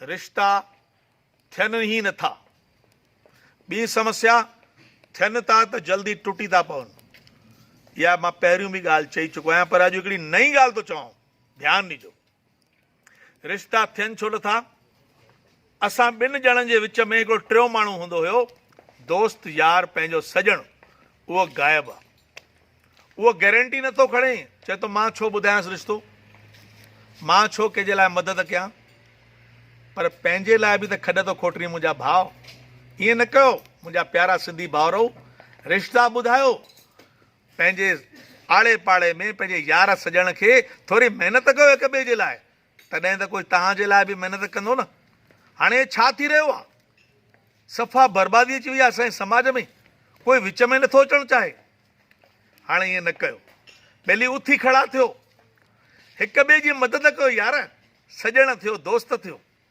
رشتا ٿين ئي نه ٿا. ٻي سمسيا ٿين ٿا ته جلدي ٽٽي ٿا پون. اها مان پهريون به ڳالهه چئي چڪو آهيان پر اڄ هڪڙي نئين ڳالهه ٿو چوان ڌيان ڏجو. رشتا ٿين ڇو نه ٿا؟ اسان ٻن ڄڻن جي وچ ۾ هڪڙو ٽيون ماڻهو هوندو هيو، دوست، يار، پنهنجو سڄڻ، اهو غائب آ. اهو گيرنٽي نه ٿو کڻي. چئي ٿو مان ڇو ٻڌايانس رشتو. مان ڇو ڪنهن جي لاء مدد ڪيان. پر پنهنجي لاء به ته کڏ ٿو کوٽرين منهنجا ڀاء. ائين نه ڪيو منهنجا پيارا سنڌي ڀائرؤ. رشتا ٻڌايو. پنهنجي آڙي پاڙي ۾ پنهنجي يار سڄڻ کي ٿوري محنت ڪيو هڪ ٻئي جي لاء. تڏهن ته ڪجهه توهان جي لاء به محنت ڪندو نه. هاڻي ڇا ٿي رهيو آهي؟ صفا بربادي اچي وئي آهي اسان جي سماج ۾. ڪوئي وچ ۾ نٿو اچڻ چاهي. هاڻي ائين نه ڪيو. ٻيلي اٿي کڙا ٿيو. هڪ ٻئي جي مدد ڪيو يار. سڄڻ ٿيو، دوست ٿيو.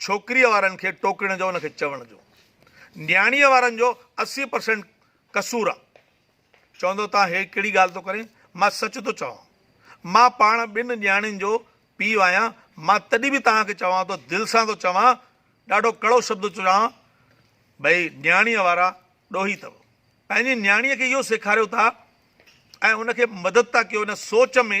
ڇوڪريء وارن کي ٽوڪڻ جو ان کي چوڻ جو نياڻيء وارن جو اسي پرسنٽ قصور آ. چوندو تان هي ڪهڙي ڳالهه ٿو ڪرين؟ مان سچ ٿو چوان. مان پاڻ ٻن نياڻين جو پيء آهيان. مان تڏهن به توهان کي چوان ٿو دل سان ٿو چوان ڏاڍو ڪڙو شبد ٿو چوان ڀئي نياڻيء وارا ڏوهي اٿو. پنهنجي نياڻيء کي اهو سيکاريو ٿا ۽ ان کي مدد ٿا ڪيو ان سوچ ۾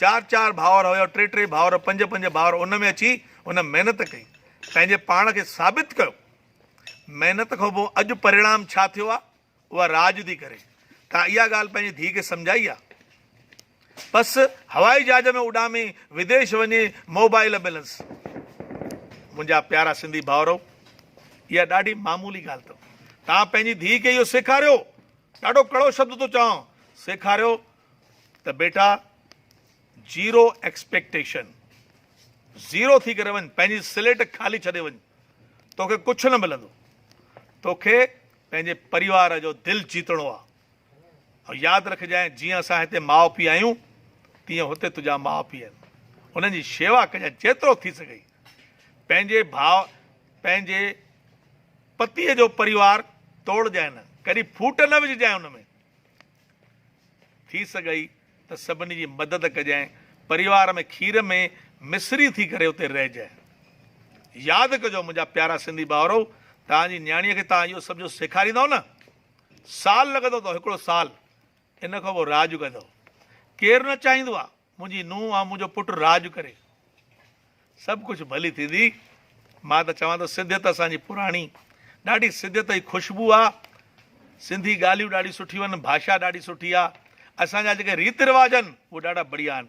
چار چار ڀائر هيا، ٽي ٽي ڀائر، پنج پنج ڀائر، ان ۾ اچي هن محنت ڪئي، پنهنجي پاڻ کي ثابت ڪيو. محنت کان پوء اڄ پريڻام ڇا ٿيو آهي، اها راڄ ٿي ڪري. تان اها ڳالهه پنهنجي ڌيء کي سمجهائي آهي. بس هوائي جهاز ۾ اڏامي وديش وڃي موبائل ملنس. منهنجا پيارا سنڌي ڀائرؤ! اها ڏاڍي معمولي ڳالهه اٿو. تان پنهنجي ڌيء کي اهو سيکاريو، ڏاڍو ڪڙو شبد ٿو چوان، سيکاريو ته بيٽا زيرو ايڪسپيڪٽيشن زيرو ٿي ڪري وڃ پنهنجي سليٽ خالي ڇڏي وڃ توکي ڪجهه نه ملندو توکي پنهنجي پريوار جو دل جيتڻو آ ۽ ياد رکجانء جيئن اسان هتي ماء پيء آهيون تيئن هتي تنهنجا ماء پيء آهن انهن جي شيوا ڪجانء جيترو ٿي سگهي پنهنجي ڀاء پنهنجي پتيء جو پريوار توڙجانء نه ڪڏهن ڦوٽ نه وجهجانء ان ۾ ٿي سگهئي ته سڀني جي مدد ڪجانء، پريوار ۾ کير ۾ مصري ٿي ڪري اتي رهجانء. ياد ڪجو منهنجا پيارا سنڌي ڀائرؤ، توهان جي نياڻيء کي توهان اهو سڀ جو سيکاريندؤ نه، سال لڳندو اٿو، هڪڙو سال، ان کان پوء راڄ ڪندؤ. ڪير نه چاهيندو آهي. منهنجي نونهن ۽ منهنجو پٽ راڄ ڪري سڀ ڪجهه ڀلي ٿيندي. مان ته چوان ٿو سنڌيت اسان جي پراڻي ڏاڍي سنڌيت جي خوشبو آ. سنڌي ڳالهيون ڏاڍي سٺيون آهن ڀاشا ڏاڍي سٺي آ. اسان جا جيڪي ريت رواج آهن اهي ڏاڍا بڙيا آهن.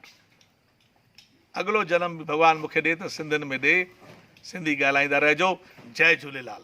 اڳلو جنم به ڀڳوان مونکي ڏي ته سنڌين ۾ ڏي. سنڌي ڳالهائيندا رهجو. جئي جهوليلال.